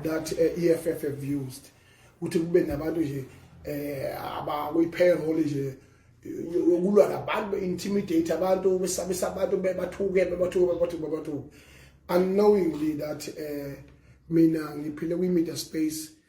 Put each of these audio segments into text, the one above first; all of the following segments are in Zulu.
that uh, eh, EFF have used ukuthi kube nabantu nje eh abakuyi payroll nje yokulwa nabantu be intimidate abantu besabisa abantu bebathuke bebathuke bebathuke bebathuke unknowingly that eh mina ngiphile kwi media space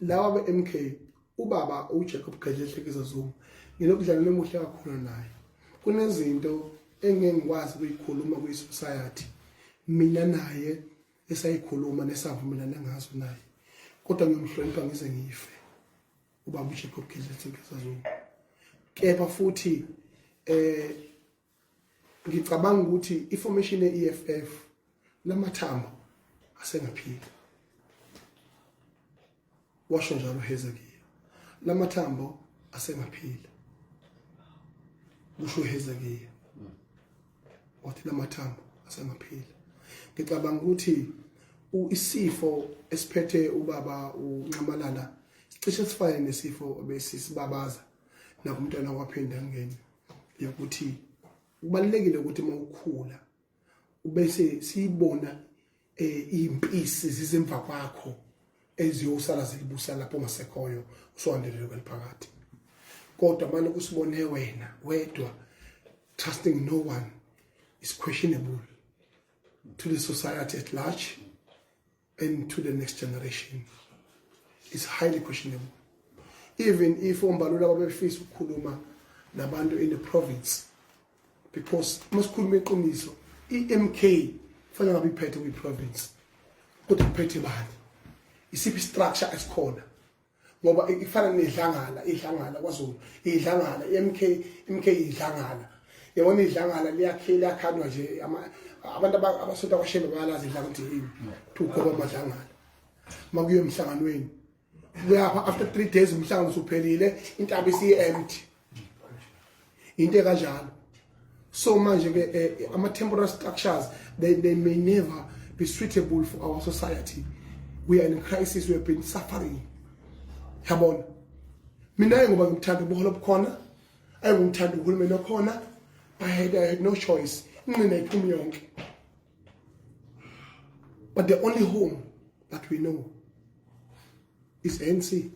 lawa be-mk ubaba ujacob gadle ehlekisa zuma nginobudlelwane obuhle kakhulu naye kunezinto engeke ngikwazi ukuyikhuluma kwi-society mina naye esayikhuluma nesavumelana ngazo naye kodwa ngiyomhlonipha ngize ngife ubaba ujacob gadle ehlekisa zuma kepha futhi eh ngicabanga ukuthi i-formation ye-EFF lamathambo asengaphila washo njalo Hezekiya lamathambo asengaphila kusho Hezekiya wathi lamathambo asengaphila ngicabanga ukuthi isifo esiphethe ubaba unxamalala sicishe sifane nesifo besisibabaza nakumntwana waphindangeni yokuthi kubalulekile ukuthi uma ukhula ubese siyibona eh, impisi zizemva kwakho eziyosala zilibusa lapho ngasekhoyo usuhandelele kweliphakathi kodwa manje kusibone wena wedwa trusting no one is questionable to the society at large and to the next generation is highly questionable even if ombalula babefisa ukukhuluma nabantu in the province because uma sikhuluma iqiniso i-mk kufanele ngabe iphethe kwi-province kodwa iphethe bani isiphi structure esikhona ngoba ifana nedlangala idlangala kwaZulu idlangala iMK iMK idlangala yabona idlangala liyakhile liyakhandwa nje abantu abasonta kwashembe bayalazi idlanga ukuthi yini to goba amadlangala makuye emhlanganweni kuyapha after 3 days umhlangano usuphelile intaba isiye empty into ekanjalo so manje ke eh, ama temporal structures they, they may never be suitable for our society we are in crisis we have been suffering yabona mina ayi ngoba ngimthanda ubuholo obukhona ayi ngimthanda uhulumeni okhona i had, I had no choice inqina iphumi yonke but the only home that we know is ANC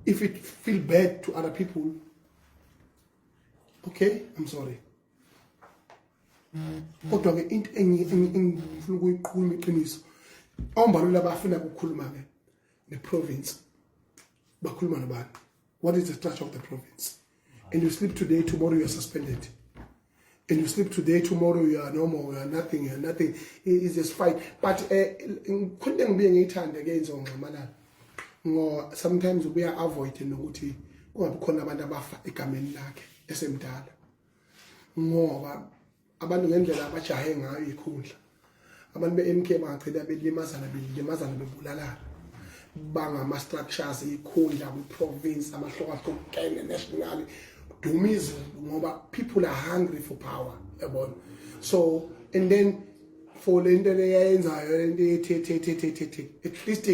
if it feel bad to other people okay i'm sorry kodwa ke into engifuna ukuyiqhuma iqiniso ombalula bafuna ukukhuluma ke ne province bakhuluma nabantu what is the structure of the province and you sleep today tomorrow you are suspended and you sleep today tomorrow you are normal you are nothing you are nothing is just fight but eh, khona ngibuye ngiyithande ke inzo ngxamalala ngo sometimes ubuya avoid nokuthi kungabi khona abantu abafa egameni lakhe esemdala ngoba abantu ngendlela abajahe ngayo ikhundla abantu be-mk bangagcina belimazana belimazana bebulalana bangama-structures ikhundla kwi-province amahlokahlukene national dumizi ngoba people are hungry for power yabona so and then for le nto leyayenzayo le nto yethethethethethe at least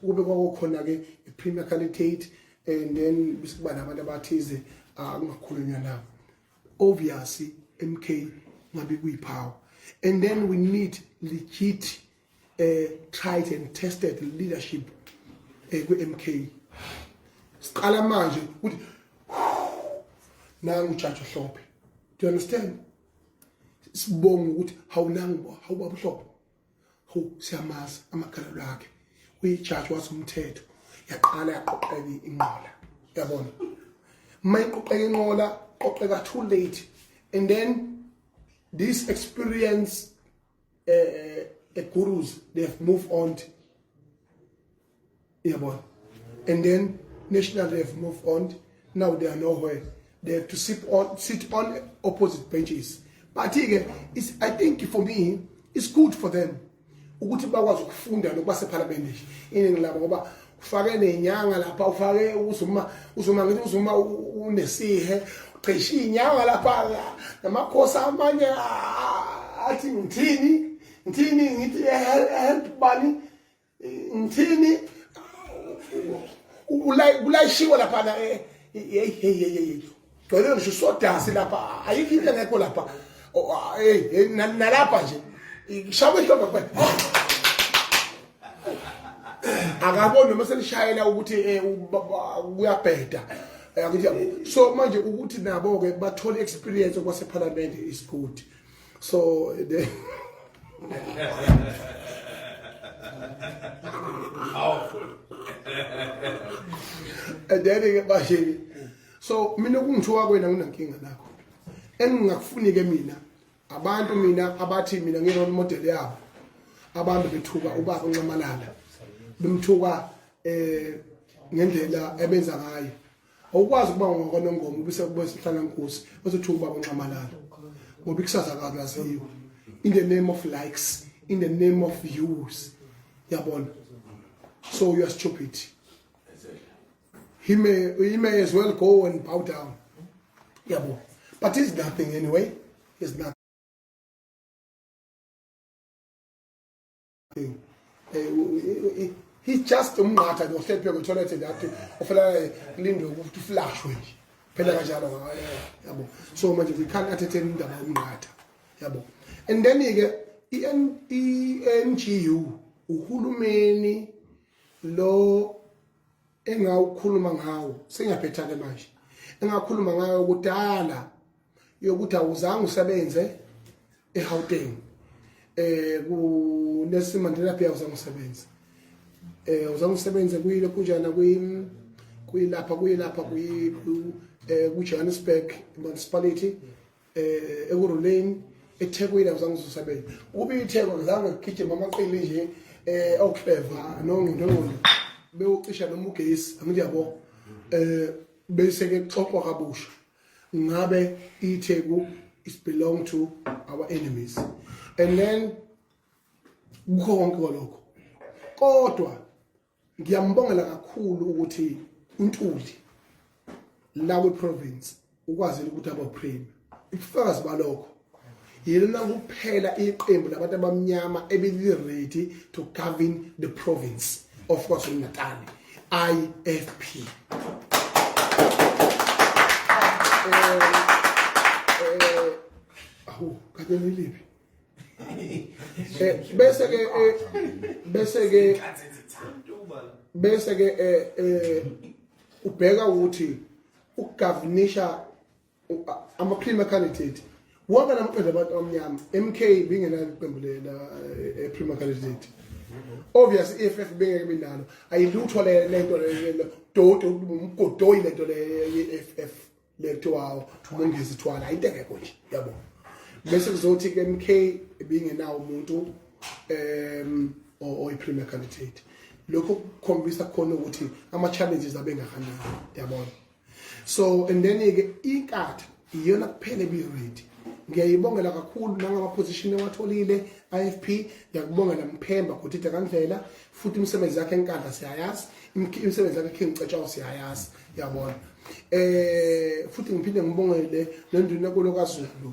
kube kwakukhona-ke i-premarital date and then bese kuba nabantu abathize ah, kungakhulunywa nabo obviously MK ngabe kuyiphawu and then we need legit uh, tried and tested leadership uh, eh, kwi-MK siqala manje ukuthi nangu ujaji uhlophe do you understand sibonga ukuthi hawunangu hawubaba uhlophe hu siyamazi amagalelo akhe uyijaji wasumthetho yaqala yaqoqeka inqola yabona uma iqoqeka inqola qoqeka too late and then this experience uh, uh, gurus they have moved on to Yabona. And then National have moved on. Now they are nowhere. They have to sit on sit on opposite benches. But ke is I think for me it's good for them ukuthi bakwazi ukufunda nokuba sephalamende nje iningi labo ngoba ufake nenyanga lapha ufake uzuma uzuma ngithi uzuma unesihe cishe inyanga lapha namakhosi amanye athi ngithini ngithini ngithi help bani ngithini kulayishiwe laphana eh, yeyi yeyi yeyi gcwele ngisho sodasi lapha ayikho into engekho lapha oh, ah, nalapha nje shawa ihlombe kuphela akaboni noma selishayela ukuthi eh, kuyabheda eh, so manje ukuthi nabo-ke bathole experience kwasephalamende is good So they Powerful. and then ke bashini. So mina kungithiwa kwena nginankinga nakho. Engingakufuni ke mina abantu mina abathi mina ngi role model yabo. Abantu bethuka ubaba uncamalala. Bemthuka eh ngendlela ebenza ngayo. awukwazi ukuba ngokwanongoma ubise kubo sihlala nkosi ozothi ubaba nxamalala ngoba ikusasa kabi laziyo in the name of likes in the name of views yabona so you are stupid he may he may as well go and bow down yabo but it's nothing anyway it's nothing thing eh, he just umnqatha nje uhlepheke kutholethe ngathi ufela kulindwe ukuthi uflashwe nje phela kanjalo yabo so manje we can't entertain indaba yomnqatha yabo and then ke i-NGU uhulumeni lo engawukhuluma ngawo sengiyaphetha-ke manje engakhuluma ngayo kudala yokuthi awuzange usebenze eGauteng eh ku Nelson Mandela Bay awuzange usebenze eh awuzange usebenze kuyile kunjana kwi kuyilapha kuyilapha kuyi eh ku Johannesburg municipality eh ekuruleni eThekwini awuzange usebenze ukuba iTheko ngizange ngigijima amaqili nje eh okleva nongqondongqondo bewucisha noma ugesi angiyabo eh bese ke xoxwa kabusha ngabe iTheku is belong to our enemies and then kukho konke lokho kodwa ngiyambongela kakhulu ukuthi uNtuli la kwi province ukwazile ukuthi abo prime ubufakazi balokho yilona kuphela iqembu labantu abamnyama ebeliredi to govern the province of kwazulu-natal ifp awu kade niliphi bese ke bese ke bese ke ubheka ukuthi ukugavunisha ama premier candidate wonke namaqembu abantu abamnyama MK bingenalo iqembu lela eh, premier candidate obvious EFF bengeke benalo ayilutho le lento le dodo umgodoyi lento le EFF letho wawo umongezi thwala into engekho nje yabo bese kuzothi ke MK bingenawo umuntu em oyi premier candidate lokho kukhombisa khona ukuthi ama challenges abengakanani yabona so and then ke inkatha iyona kuphela ebi ready ngiyayibongela kakhulu nangama position ewatholile IFP ngiyakubongela mphemba ukuthi akangivela futhi imisebenzi yakhe enkandla siyayazi imisebenzi yakhe King Cetshawo siyayazi yabona eh futhi ngiphinde ngibongele nenduna kolo kaZulu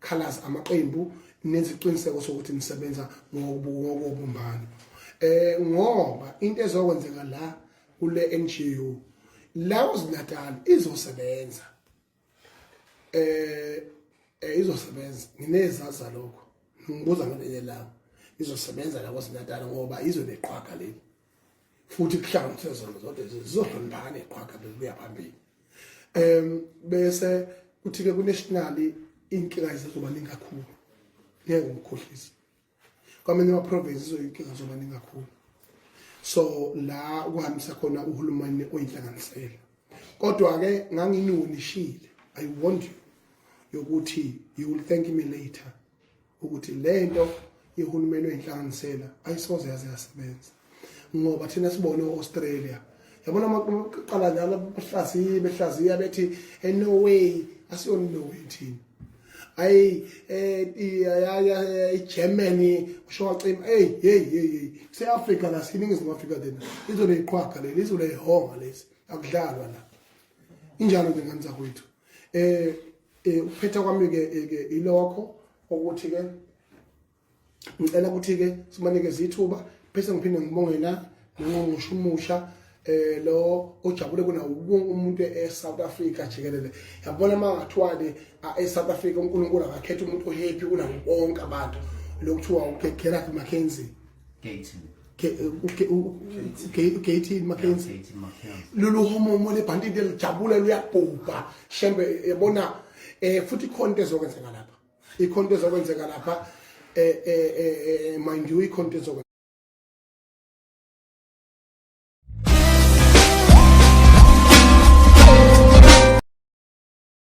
Khalas amaqembu neziqiniseko sokuthi nisebenza ngokubumbana eh ngoba into ezokwenzeka la kule NGO la uZinatal izosebenza eh, eh izosebenza nginezaza lokho ngibuza ngelinye lawo izosebenza la kwaZinatal ngoba izwe leqhwaga leli futhi kuhlawumbe sezona zonke zizohloniphana neqhwaga bekuya phambili um bese kuthi-ke kunationali iy'nkinga zizoba ningi kakhulu ngeke umkhohlisi kwamanye ama-province izoyinkinga zoba ningi kakhulu so la ukuhambisa khona uhulumeni oyinhlanganisela kodwa-ke nganginionishile i want you yokuthi you will thank me later ukuthi le nto ihulumeni oyinhlanganisela ayisoze yaze yasebenza ngoba thina sibone u-australia yabona amaqala njalo behlaziye behlaziya bethi enorway eh, asiyona inorway thina ayi eh, igermany usho wacima eyi yeyi yeyi yeyi kuse-afrika la siyiningizimu afrika then izwe leyiqhwaga leli izwe leyihonga lesi akudlalwa la injalo ke ngani zakwethu eh eh uphetha kwami ke eh, ke ilokho ukuthi ke ngicela ukuthi ke simanikeze ithuba bese ngiphinde ngibonge la nongqongqoshe umusha eh lo ojabule kuna umuntu eSouth Africa jikelele yabona mangathiwale eSouth Africa uNkulunkulu akakhetha umuntu ohappy kunawo bonke abantu lokuthiwa uGerard McKenzie Gating. ugatin mackenzie lolu homomo lebhanti liyajabula luyabhubha shembe yabona um futhi ikhona into ezokwenzeka lapha ikhona into ezokwenzeka lapha um mind you ikhona into ezokwenzeka